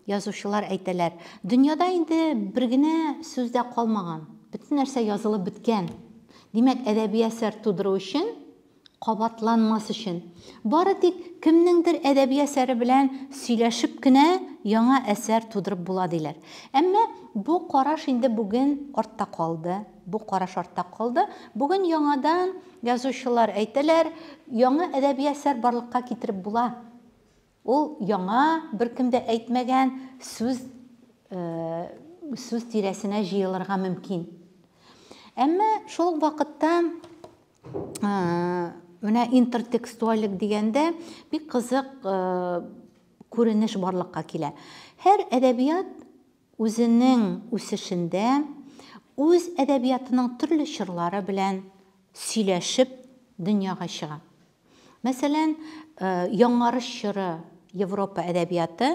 язучылар әйтәләр, дөньяда инде бер генә сүз дә калмаган, Бөтен нәрсә язылып беткән. Димәк, әдәби әсәр тудыру өчен, кабатланмас өчен, бары тик кемнеңдер әдәби әсәре белән сөйләшеп кенә яңа әсәр тудырып була, диләр. Әмма бу караш инде бүген артта калды. Бу караш артта калды. Бүген яңадан язучылар әйтәләр, яңа әдәби әсәр барлыкка китереп була. Ул яңа, беркем дә әйтмәгән сүз сүз тирәсенә җыелырга мөмкин. Әмма шул ук вакытта менә интертекстуальлек дигәндә бик кызык күренеш барлыкка килә. Һәр әдәбият үзенең үсешендә үз әдәбиятының төрле чорлары белән сөйләшеп дөньяга чыга. Мәсәлән, Яңарыш чоры Европа әдәбияты,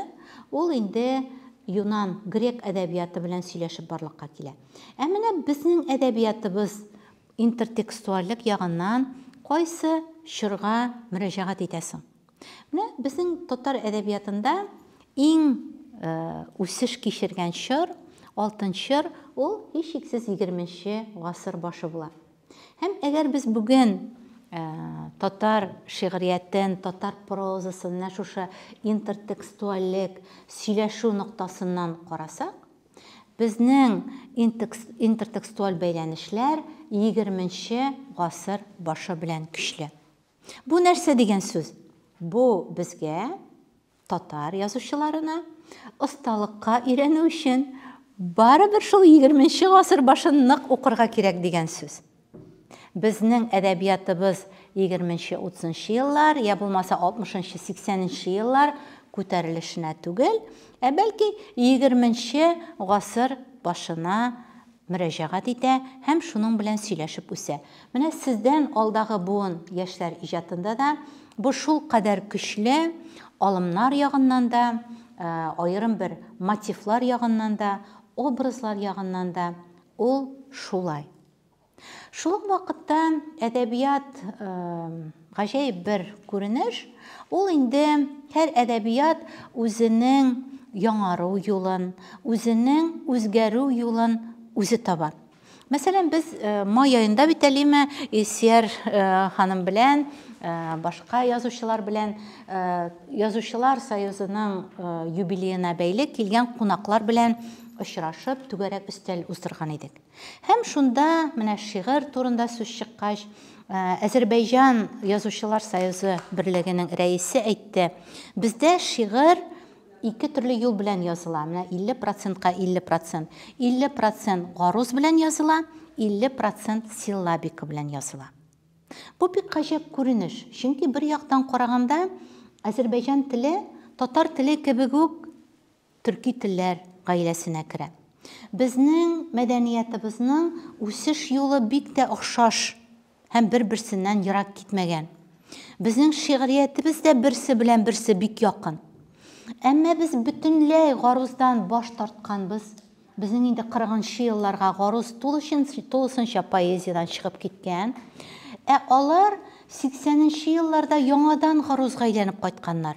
ул инде юнан, грек әдәбияты белән сөйләшеп барлыкка килә. Ә менә безнең әдәбиятыбыз интертекстуальлек ягыннан кайсы чорга мөрәҗәгать итә соң? Менә безнең татар әдәбиятында иң үсеш кичергән чор, алтын чор, ул, һичшиксез, егерменче гасыр башы була. Һәм әгәр без бүген татар шигъриятен, татар прозасын менә шушы интертекстуальлек, сөйләшү ноктасыннан карасак, безнең интертекстуаль бәйләнешләр егерменче гасыр башы белән көчле. Бу нәрсә дигән сүз? Бу безгә Татар язучыларына осталыкка өйрәнү өчен барыбер шул егерменче гасыр башын нык укырга кирәк дигән сүз. Безнең әдәбиятыбыз егерменче-утызынчы еллар, я булмаса алтмышынчы-сиксәненче еллар күтәрелешенә түгел, ә бәлки егерменче гасыр башына мөрәҗәгать итә һәм шуның белән сөйләшеп үсә. Менә сездән алдагы буын яшьләр иҗатында да бу шулкадәр көчле, алымнар ягыннан да, аерым бер мотивлар ягыннан да, образлар ягыннан да ул шулай. Шул ук вакытта әдәбият, Гаҗәеп бер күренеш, ул инде һәр әдәбият үзенең яңару юлын, үзенең үзгәрү юлын үзе таба. Мәсәлән, без май аенда бит әлеме Илсияр ханым белән, башка язучылар белән, Язучылар союзының юбилеена бәйле килгән кунаклар белән очрашып, түгәрәк өстәл уздырган идек. Һәм шунда, менә шигырь турында сүз чыккач, Әзербәйҗан язучылар союзы берлегенең рәисе әйтте, бездә шигырь ике төрле юл белән языла. Менә 50 процентка 50 процент. 50 процент гаруз белән языла, 50 процент силлабика белән языла. Бу бик гаҗәп күренеш, чөнки бер яктан караганда Әзербәйҗан теле татар теле кебек үк төрки телләр гаиләсенә керә. Безнең мәдәниятыбызның үсеш юлы бик тә охшаш һәм бер-берсеннән ерак китмәгән. Безнең шигъриятебез дә берсе белән берсе бик якын. Әмма без бөтенләй гаруздан баш тартканбыз. Безнең инде кырыгынчы елларга гаруз тулысынча поэзиядән чыгып киткән. Ә алар сиксәненче елларда яңадан гарузга әйләнеп кайтканнар.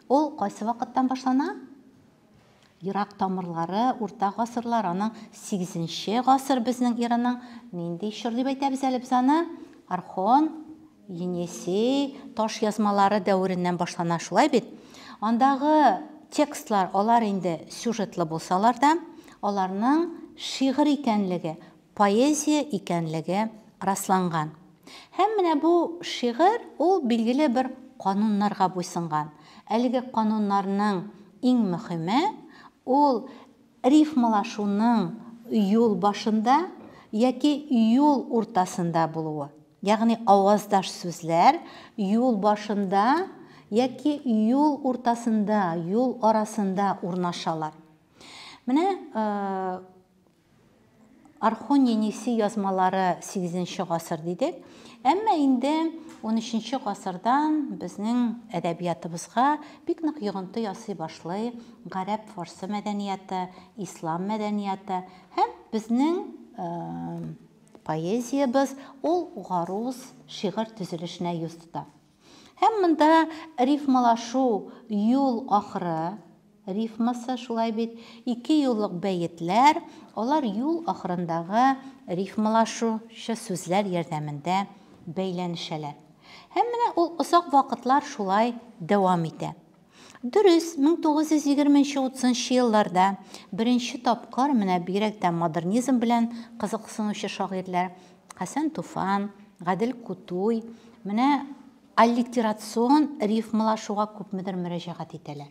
Ул кайсы вакыттан башлана? Ерак тамырлары, урта гасырлар, аның сигезенче гасыр безнең эраның нинди чор дип әйтәбез әле без аны? Орхон, Енесей таш язмалары дәвереннән башлана, шулай бит? Андагы текстлар, алар инде сюжетлы булсалар да, аларның шигырь икәнлеге, поэзия икәнлеге расланган. Һәм менә бу шигырь, ул билгеле бер кануннарга буйсынган. Әлеге кануннарның иң мөхиме, ул рифмалашуның юл башында яки юл уртасында булуы. Ягъни аваздаш сүзләр юл башында яки юл уртасында, юл арасында урнашалар. Менә Орхон-Енисей язмалары сигезенче гасыр дидек. Әмма инде унөченче гасырдан безнең әдәбиятыбызга бик нык йогынты ясый башлый гарәп-фарсы мәдәнияте, ислам мәдәнияте һәм безнең поэзиябез ул гаруз шигырь төзелешенә йөз тота. Һәм монда рифмалашу, юл ахыры рифмасы, шулай бит, ике юллык бәетләр, алар юл ахырындагы рифмалашучы сүзләр ярдәмендә бәйләнешәләр. Һәм менә ул озак вакытлар шулай дәвам итә. Дөрес, 1920-30 елларда беренче тапкыр менә бигрәк тә модернизм белән кызыксынучы шагыйрьләр Хәсән Туфан, Гадел Кутуй менә аллитерацион рифмалашуга күпмедер мөрәҗәгать итәләр.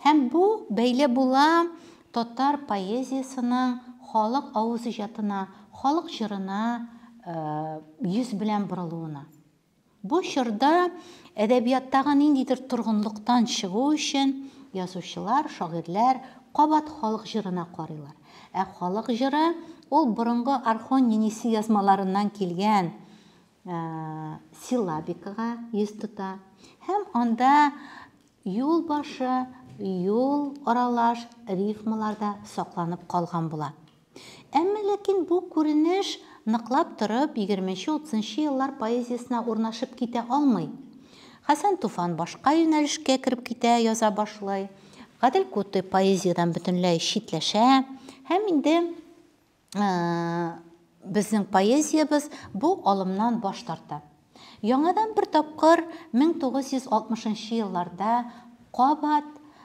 Һәм бу бәйле була татар поэзиясенең халык авыз иҗатына, халык җырына йөз белән борылуына. Бу чорда әдәбияттагы ниндидер торгынлыктан чыгу өчен язучылар, шагыйрьләр кабат халык җырына карыйлар. Ә халык җыры, ул борынгы орхон-енисей язмаларыннан килгән силлабикага йөз тота һәм анда юл башы, юл аралаш рифмалар да сакланып калган була. Әмма ләкин бу күренеш ныклап торып егерменче-утызынчы еллар поэзиясенә урнашып китә алмый. Хәсән Туфан башка юнәлешкә кереп китә, яза башлый. Гадел Кутыйп поэзиядән бөтенләй читләшә. Һәм инде безнең поэзиябез бу алымнан баш тарта. Яңадан бер тапкыр 1960 нчы елларда кабат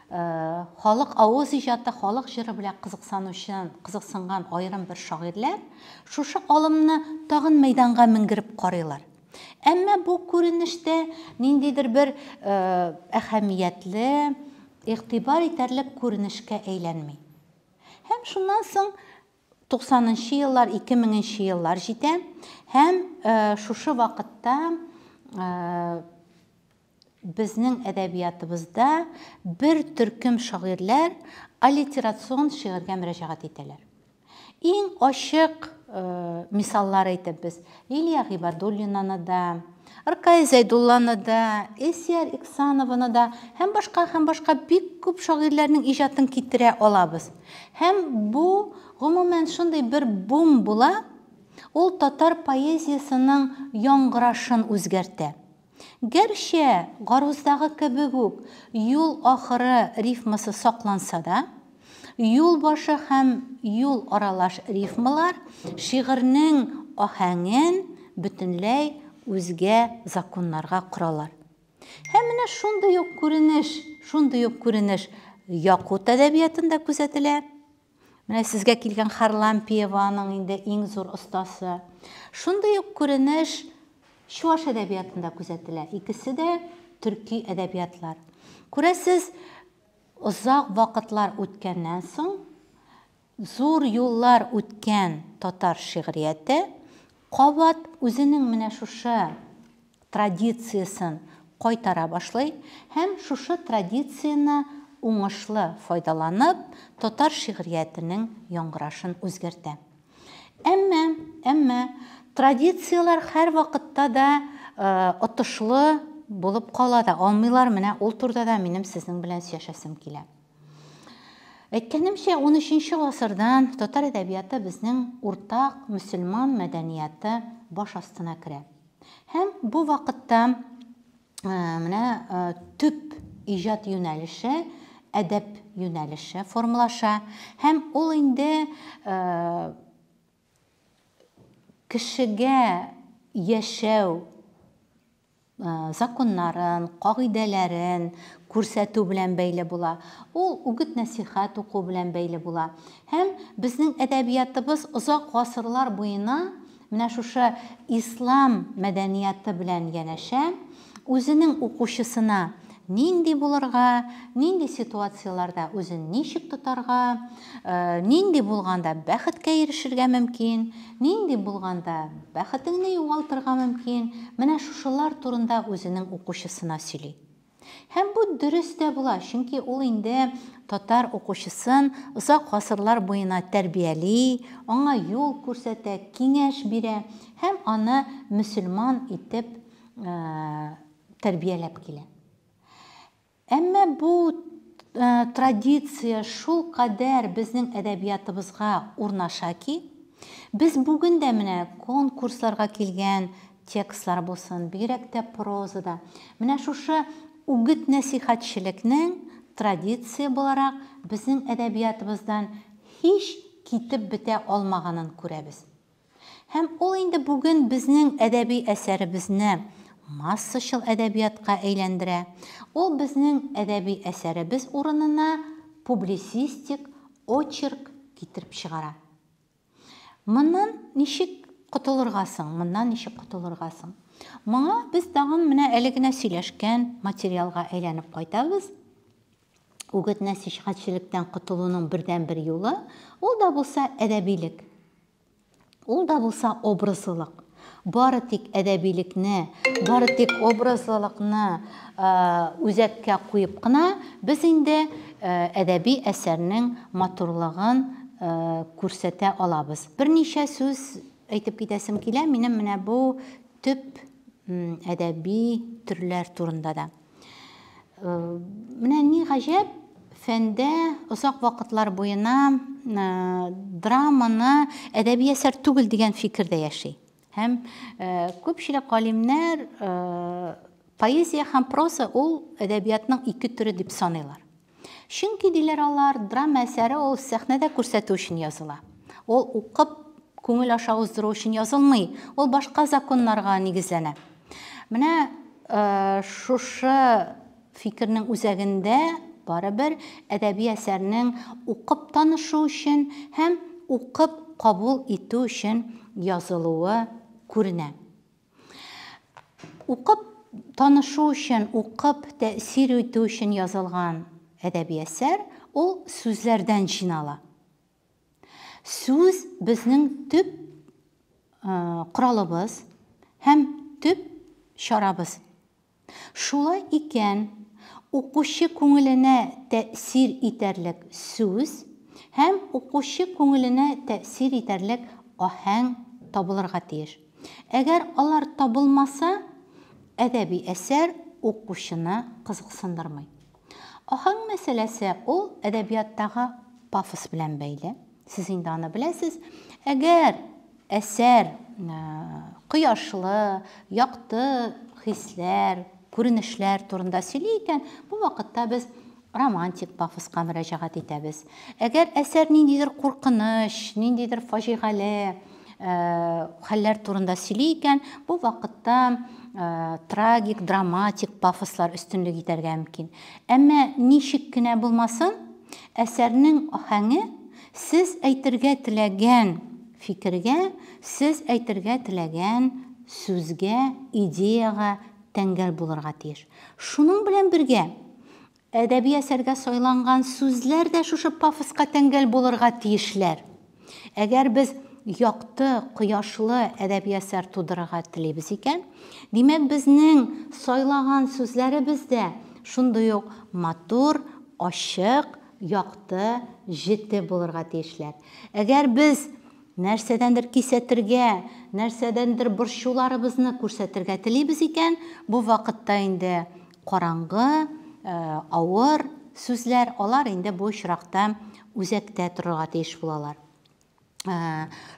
халык авыз иҗаты, халык җыры белән кызыксанучы, кызыксынган аерым бер шагыйрьләр шушы алымны тагын мәйданга менгереп карыйлар. Әмма бу күренештә ниндидер бер әһәмиятле, игътибар итәрлек күренешкә әйләнми. Һәм шуннан соң Туксанынчы еллар, ике меңенче еллар җитә һәм шушы вакытта безнең әдәбиятыбызда бер төркем шагыйрьләр аллитерацион шигырьгә мөрәҗәгать итәләр. Иң ачык мисаллар әйтеп без. Лилия Гыйбадуллинаны да, Ркай Зәйдулланы да, Эсиар Иксанованы да һәм башка һәм башка бик күп шагыйрьләрнең иҗатын китерә алабыз. Һәм бу, гомумән, шундый бер бум була, ул татар поэзиясенең яңгырашын үзгәртә. Гәрчә, Гаруздагы кебек үк, юл ахыры рифмасы сакланса да, юл башы һәм юл аралаш рифмалар шигырьнең аһәңен бөтенләй үзгә законнарга коралар. Һәм менә шундый ук күренеш, шундый ук күренеш Якут әдәбиятында күзәтелә. Менә сезгә килгән Харлампиева аның инде иң зур остасы. Шундый ук күренеш чуаш әдәбиятында күзәтелә. Икесе дә төрки әдәбиятлар. Күрәсез, озак вакытлар үткәннән соң, зур юллар үткән татар шигърияте кабат үзенең менә шушы традициясен кайтара башлый һәм шушы традицияне уңышлы файдаланып, татар шигъриятенең яңгырашын үзгәртә. Әмма, әмма традицияләр һәрвакытта да отышлы булып кала да алмыйлар, менә ул турда да минем сезнең белән сөяшәсем килә. Әйткәнемчә, 13 нче гасырдан татар әдәбияты безнең уртак мөселман мәдәнияты баш астына керә. Һәм бу вакытта менә төп иҗат юнәлеше әдәп юнәлеше формалаша һәм ул инде кешегә яшәү законнарын, кагыйдәләрен күрсәтү белән бәйле була. Ул үгет-нәсихәт уку белән бәйле була. Һәм безнең әдәбиятыбыз озак гасырлар буена Менә шушы ислам мәдәнияты белән янәшә үзенең укучысына нинди булырга, нинди ситуацияләрдә үзен ничек тотарга, нинди булганда бәхеткә ирешергә мөмкин, нинди булганда бәхетеңне югалтырга мөмкин, менә шушылар турында үзенең укучысына сөйли. Һәм бу дөрес тә була, чөнки ул инде татар укучысын озак гасырлар буена тәрбияли, аңа юл күрсәтә, киңәш бирә һәм аны мөселман итеп тәрбияләп килә. Әмма бу традиция шулкадәр безнең әдәбиятыбызга урнаша ки, без бүген дә менә конкурсларга килгән текстлар булсын, бигрәк тә прозада менә шушы үгет-нәсыйхәтчелекнең традиция буларак безнең әдәбиятыбыздан һич китеп бетә алмаганын күрәбез. Һәм ул инде бүген безнең әдәби әсәребезне массачыл әдәбиятка әйләндерә, ул безнең әдәби әсәребез урынына публисистик очерк китереп чыгара. Моннан ничек котылырга соң? Моннан ничек котылырга соң? Моңа без тагын менә әле генә сөйләшкән материалга әйләнеп кайтабыз. Үгет нәсихәтчелектән котылуның бердәнбер юлы, ул да булса әдәбилек. Ул да булса образлылык. Бары тик әдәбилекне, бары тик образлылыкны үзәккә куеп кына без инде әдәби әсәрнең матурлыгын күрсәтә алабыз. Берничә сүз әйтеп китәсем килә минем менә бу төп әдәби төрләр турында да. Э, менә ни гаҗәп, фәндә озак вакытлар буена э, драманы әдәби әсәр түгел дигән фикер дә яши. Һәм э, күпчелек галимнәр поэзия һәм проза ул әдәбиятның ике төре дип саныйлар. Чөнки, диләр алар, драма әсәре ул сәхнәдә күрсәтү өчен языла. Ул укып, күңел аша уздыру өчен язылмый, ул башка законнарга нигезләнә. Менә шушы фикернең үзәгендә, барыбер, әдәби әсәрнең укып танышу өчен һәм укып кабул итү өчен язылуы күренә. Укып танышу өчен, укып тәэсир итү өчен язылган әдәби әсәр, ул сүзләрдән җыйнала. Сүз, безнең төп коралыбыз һәм төп чарабыз. Шулай икән, укучы күңеленә тәэсир итәрлек сүз һәм укучы күңеленә тәэсир итәрлек аһәң табылырга тиеш. Әгәр алар табылмаса, әдәби әсәр укучыны кызыксындырмый. Аһәң мәсьәләсе ул әдәбияттагы пафос белән бәйле. Сез инде аны беләсез. Әгәр әсәр кояшлы, якты хисләр, күренешләр турында сөйли икән, бу вакытта без романтик пафоска мөрәҗәгать итәбез. Әгәр әсәр ниндидер куркыныч, ниндидер фаҗигале хәлләр турында сөйли икән, бу вакытта трагик, драматик пафослар өстенлек итәргә мөмкин. Әмма ничек кенә булмасын, Әсәрнең аһәңе сез әйтергә теләгән фикергә, сез әйтергә теләгән сүзгә, идеягә тәңгәл булырга тиеш. Шуның белән бергә, әдәби әсәргә сайланган сүзләр дә шушы пафоска тәңгәл булырга тиешләр. Әгәр без якты, кояшлы әдәби әсәр тудырырга телибез икән, димәк, безнең сайлаган сүзләребез дә шундый ук матур, ачык, якты, җете булырга тиешләр. Әгәр без нәрсәдәндер кисәтергә, нәрсәдәндер борчуларыбызны күрсәтергә телибез икән, бу вакытта инде Караңгы, авыр сүзләр, алар инде бу очракта үзәктә торырга тиеш булалар.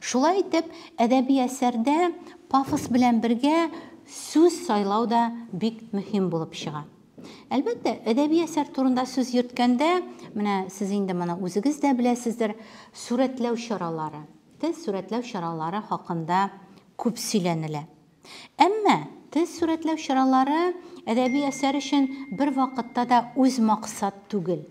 Шулай итеп, әдәби әсәрдә пафос белән бергә сүз сайлау да бик мөһим булып чыга. Әлбәттә, әдәби әсәр турында сүз йөрткәндә, менә сез инде моны үзегез дә беләсездер, сурәтләү чаралары, тел сурәтләү чаралары хакында күп сөйләнелә. Әмма тел сурәтләү чаралары әдәби әсәр өчен бервакытта да үз максат түгел.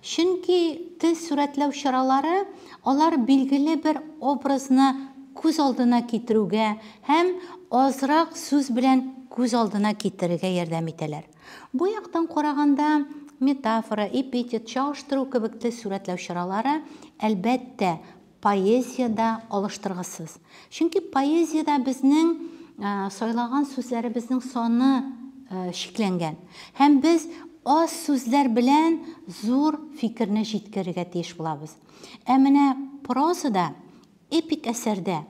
Чөнки тел сурәтләү чаралары алар билгеле бер образны күз алдына китерүгә һәм азрак сүз белән күз алдына китерергә ярдәм итәләр. Бу яктан караганда, метафора, эпитет, чагыштыру кебек тел сурәтләү чаралары, әлбәттә, Поэзия дә алыштыргысыз. Чөнки поэзиядә безнең сайлаган сүзләребезнең саны чикләнгән. Һәм без аз сүзләр белән зур фикерне җиткерергә тиеш булабыз. Ә менә прозада, эпик әсәрдә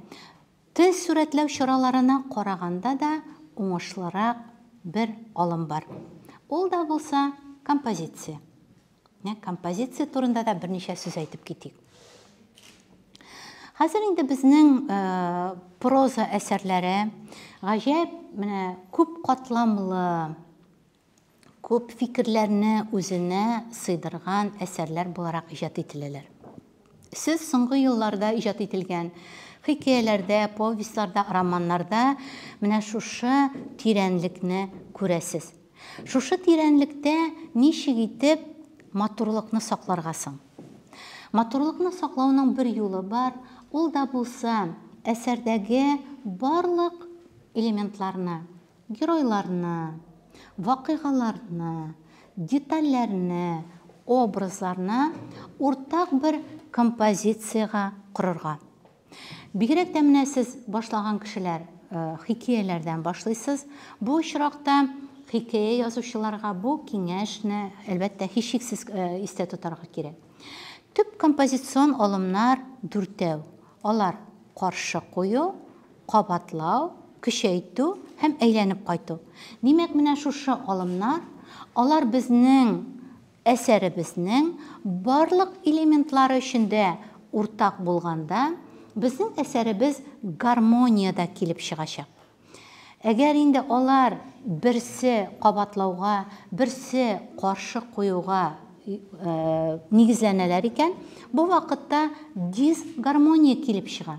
тел сурәтләү чараларына караганда да уңышлырак бер алым бар. Ул да булса, композиция. Менә композиция турында да берничә сүз әйтеп китик. Хәзер инде безнең э, проза әсәрләре гаҗәп менә күп катламлы, күп фикерләрне үзенә сыйдырган әсәрләр буларак иҗат ителәләр. Сез соңгы елларда иҗат ителгән хикәяләрдә, повестьларда, романнарда менә шушы тирәнлекне күрәсез. Шушы тирәнлектә ничек итеп матурлыкны сакларга соң? Матурлыкны саклауның бер юлы бар, ул да булса, әсәрдәге барлык элементларны, Геройларны, вакыйгаларны, детальләрне, образларны уртак бер композициягә корырга. Бигрәк тә менә сез башлаган кешеләр хикәяләрдән башлыйсыз. Бу очракта хикәя язучыларга бу киңәшне, әлбәттә, һичшиксез истә тотарга кирәк. Төп композицион алымнар дүртәү. Алар каршы кую, кабатлау, көчәйтү һәм әйләнеп кайту. Димәк, менә шушы алымнар, алар безнең әсәребезнең барлык элементлары өчен дә уртак булганда, безнең әсәребез гармониядә килеп чыгачак. Әгәр инде алар берсе кабатлауга, берсе каршы куюга нигезләнәләр икән, бу вакытта дисгармония килеп чыга.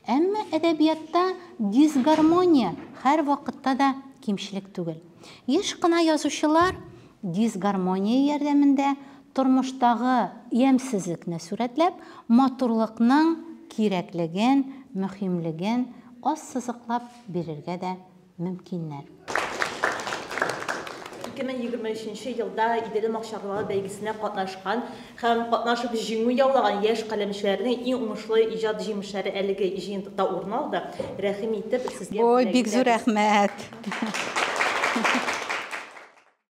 Әмма әдәбиятта дисгармония һәрвакытта да кимчелек түгел. Еш кына язучылар дисгармония ярдәмендә тормыштагы ямьсезлекне сурәтләп, матурлыкның кирәклеген, мөһимлеген ассызыклап бирергә дә мөмкиннәр. 2023 нче елда Иделем акчарлылар бәйгесенә катнашкан һәм катнашып җиңү яулаган яшь каләмчеләрнең иң уңышлы иҗат җимешләре әлеге җыентыкта урын алды. Рәхим итеп, сезгә бүләкләр. Ой, бик зур рәхмәт!